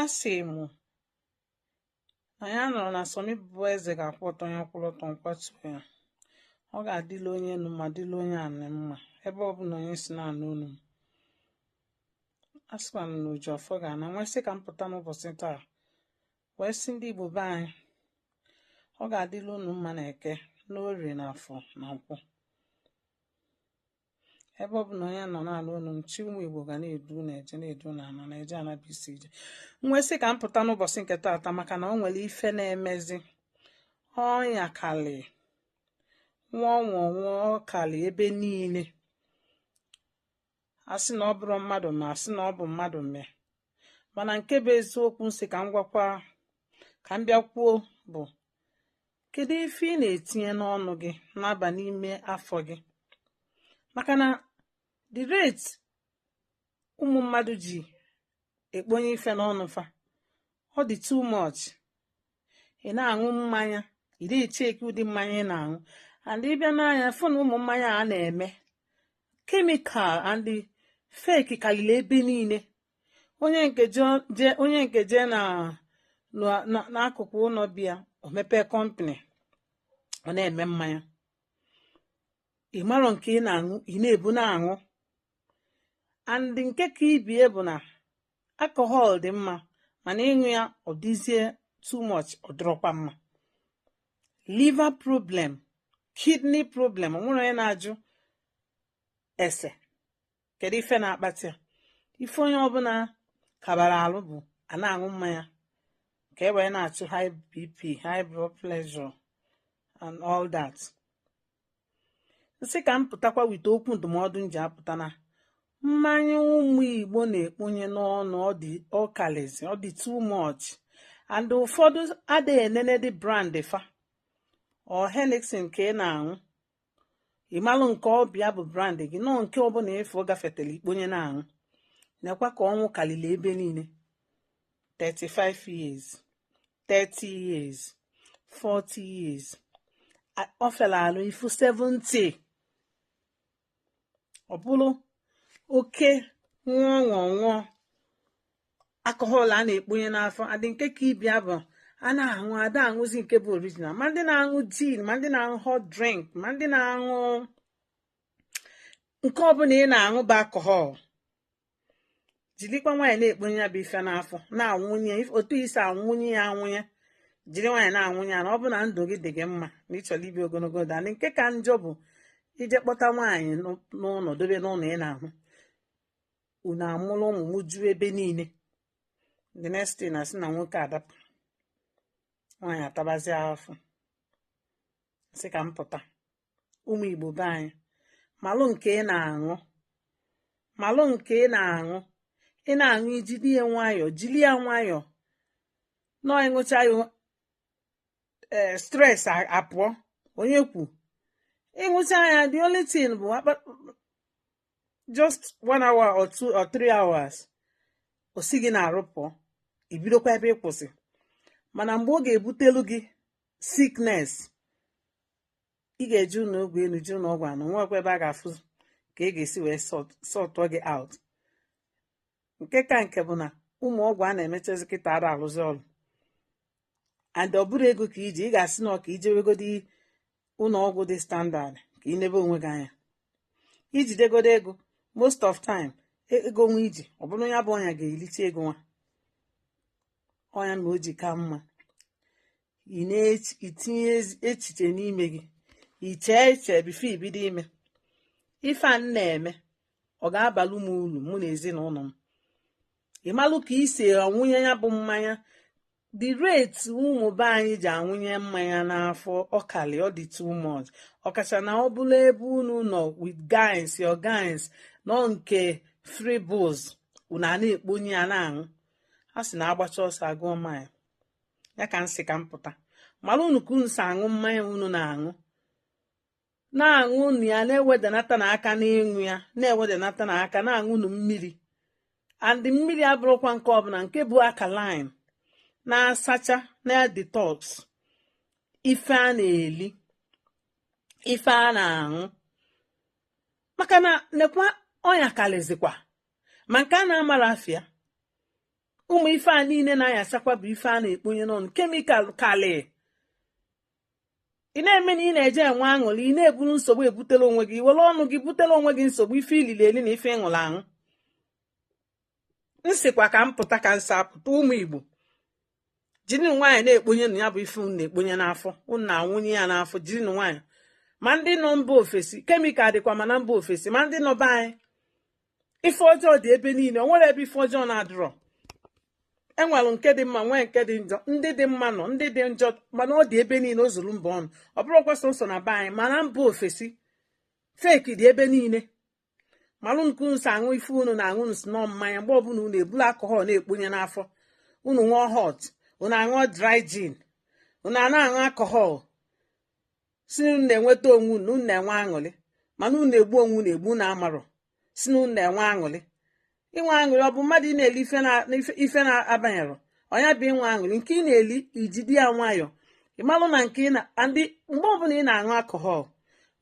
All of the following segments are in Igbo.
a sị m na ya nọrọ na sọmi bụ eze ga-akwụ ọtọ ya kwụrụ ọtọ nkwatu ya ọ ga-adịla onye enu mma dịla onye anị mma ebe ọbụna onye si na-anụ onu m a sịkwa m na o ji ọfọ ga-ana m wee sị ka m pụta n'ụbọsị taa wee sị ndị igbo be anyị ọ ga-adịla unu mma na eke n'orie na afọ na nkwọ ebe ọbụna onye nọ na-anụ onu m chi ụmụ igbo ga na-edu unu eje na-edu unu ana eje ana bụ isi ije m wee sị ka m pụta n'ụbọsị nke taata maka na o nwere ife na-emezi ọya kalị nwụọ nwụọ nwụọ kalị ebe niile asị na ọ bụrụ mmadụ mee asị na ọ bụ mmadụ mee mana nke bụ eziokwu m sị ka m gwakwa ka m bịa kwuo bụ kedu ife ị na-etinye n'ọnụ gị na-aba n'ime afọ gị maka na the rate ụmụ mmadụ ji ekponye ife n'ọnụ fa ọ dị too much ị na-aṅụ mmanya ị da-echekwa ụdị mmanya ị na-aṅụ and ị bịa nee anya fụ na ụmụ mmanya a na-eme chemical and fake kalili ebe niile onye nke jee onye nke jee na n'akụkụ ụnọ be ya o mepee company ọ na-eme mmanya ị marọ nke ị na-aṅụ ị na-ebu na-aṅụ and nke ka ibie bụ na alcohol dị mma mana ị ṅụọ ya ọ dịzie too much ọ dịrọkwa mma liver problem kidney problem o nwerọ onye na-ajụ ese kedu ife na-akpata ya ife onye ọbụna kabara alụ bụ a na-aṅụ mmanya ka e wee na-achụ high bp high blood pressure and all that m sị ka m pụtakwa weta okwu ndụmọdụ m ji apụta na mmanya ụmụ igbo na-ekponye n'ọnụ ọ kalizi ọ dị too much and ụfọdụ ada enene ụdị brand fa ọ anything ka ị na-aṅụ ị malụ nke ọbịa bụ brand gị no nke ọbụna ị fụ ọ gafetala i kponye na-aṅụ nekwa ka ọnwụ kalili ebe niile 35 years 30 years 40 years ọ fịala alụ ịfụ 70 ọ bụlụ oke nwụọ nwụọ nwụọ alcohol a na-ekponye n'afọ and nke ka ibie bụ a na-aṅụ ada aṅụzi nke bụ original ma ndị na-aṅụ gin ma ndị na-aṅụ hot drink ma ndị na-aṅụ nke ọbụna ị na-aṅụ bụ alcohol jilikwa nwayọ na-ekponye ya bụ ife n'afọ na-aṅụnye otu i si aṅụnye ya aṅụnye jiri nwayọ na-aṅụnye ya ma ọ bụ na ndụ gị dị gị mma na ị chọrọ ibi ogologo ndụ and nke ka njọ bụ i jee kpọta nwaanyị n'ụnọ dobe n'ụnọ ị na-aṅụ unu amụrụ ụmụ m juo ebe niile the next thing a sị na nwoke adapụ nwaanyị atabazi afụfụ sị ka m pụta ụmụ igbo be anyị malụ nke ị na-aṅụ malụ nke ị na-aṅụ ị na-aṅụ i jiri ya nwayọọ jiri ya nwayọọ ṅụọ ị ṅụcha ya ee eh, stress apụọ onye kwu ị ṅụcha ya the only thing bụ just one hour or two or three hours o si gị n'arụ pụọ i bidokwa ebe ị kwụsị mana mgbe ọ ga-ebutelu gị sickness ị ga-eje ụlọ ọgwụ enu je ụlọ ọgwụ ana nwekwa ebe a ga-afụ ka a ga-esi wee sọtụọ gị out nke ka nke bụ na ụmụ ọgwụ a na-emechazị kịta ada alụzi ọlụ and ọ bụrọ ego ka i ji ị ga-asị na ọ ka i jewegodi ụlọ ọgwụ dị standard ka ị nebe onwe gị anya i jidegodu ego most of time e, ego nwa i ji ọ bụrụ ya bụ ọnya ga-elicha ego nwa ọ ya mere o ji ka mma ị na-etinye echiche n'ime gị i chee eche before i bido ime ife a na-eme ọ ga-abalụ m uru mụ na ezinụlọ m ị malụ ka i si aṅụnye ya bụ mmanya the rate ụmụ be anyị ji aṅụnye mmanya n'afọ ọ kalị ọ dị too much ọkacha na ọ bụlụ ebe unu nọ with guys your guys nọ nke free booze unu a na-ekponye ya na-aṅụ a sị na agbacha ọsọ agụọ mile ya ka m sị ka m pụta malụnụ ka unu si aṅụ mmanya unu na-aṅụ na-aṅụnụ ya na-ewedanatanụ aka n'ịṅụ ya na-ewedanatanụ aka na-aṅụnụ mmiri and mmiri abụrọkwa nke ọbụla nke bụ alkaline na-asacha na detox ife a na-eli ife a na-aṅụ maka na nekwa ọnya karịzikwa ma nke a na-amarọ afa ya ụmụ ife a niile na-ayachakwa bụ ife a na-ekponye n'ọnụ chemical kalị ị na-eme na ị na-eje enwe aṅụrị ị na-eburu nsogbu butelụ onwe gị were ọnụ gị butelụ onwe gị nsogbu ife i lili eli na ife ị ṅụlụ aṅụ m sịkwa ka m pụta ka m si apụta ụmụ igbo jirinụ nwayọọ na-ekponyenụ ya bụ ife unu na-ekponye n'afọ unu na-aṅụnye ya n'afọ jirinụ nwayọọ ma ndị nọ mba ofesi chemical dịkwa ma na mba ofesi ma ndị nọ be anyị ife ọjọọ dị ebe niile o nwere ebe ife ọjọọ na-adịrọ e nwere nke dị mma nwee nke dị njọ ndị dị mma nọ ndị dị njọ mana ọ dị ebe niile o zuru mba ọnụ ọ bụrọkwa sọsọ na be anyị ma na mba ofesi fake dị ebe niile malụnụ ka unu si aṅụ ife unu na-aṅụ unu sị na ọ mmanya mgbe ọbụla unu ebulu alcohol na-ekponye n'afọ unu ṅụọ hot unu aṅụọ dry gin unu ana aṅụ alcohol si na unu na-enweta onwe unu unu na-enwe aṅụrị mana unu na-egbu onwe unu egbu na amarọ si na unu na-enwe aṅụrị inwe aṅụrị ọ bụ mmadụ ị na-eli ife na- ife- ife na-abanyerọ ọnya bụ inwe aṅụrị nke ị na-eli i jide ya nwayọọ ị malụ na nke ị na and mgbe ọbụla ị na-aṅụ alcohol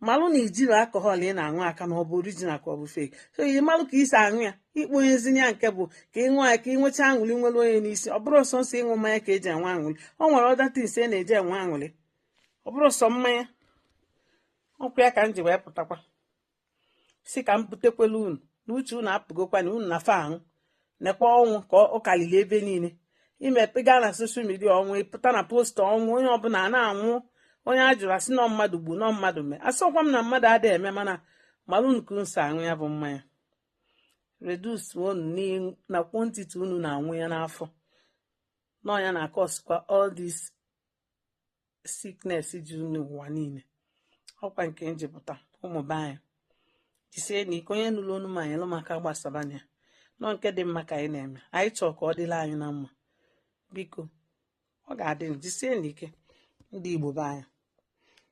malụ na i jirọ alcohol ị na-aṅụ aka na ọ bụ original ka ọ bụ fake so ị malụ ka i si aṅụ ya ikponyezinye ya nke bụ ka ị ṅụọ ya ka ị nweta aṅụrị nwere onye n'isi ọ bụrọ sọsọ ịṅụ mmanya ka eji enwe aṅụrị ọ nwere other things e na-eji enwe aṅụrị ọ bụrọ sọ mmanya ọkwa ya ka m ji wee pụtakwa si ka m butekwelụ unu na uche unu apụgokwa na unu na fa ahụ nekwa ọnwụ ka ọ kalịlị ebe niile i mepe gaa na social media ọnwụ ị pụta na poster ọnwụ onye ọbụla a na-anwụ onye a jụrụ a sị na ọ mmadụ gbu na ọ mmadụ mee asịrọkwa m na mmadụ adịghị eme mana mara unu ka unu si aṅụ ya bụ mmanya reduce unu na quantity unu na-aṅụ ya n'afọ na ọ nya na-akọsikwa all this sickness dị n'ụwa niile ọkwa nke m ji pụta ụmụ be anyị jisie nụ ike onye nụrụ onu m nyelụ m aka gbasaba nya na ọ nke dị mma ka anyị na-eme anyị chọọ ka ọ dịlị anyị na mma biko ọ ga-adị jisie nụ ike ndị igbo be anyị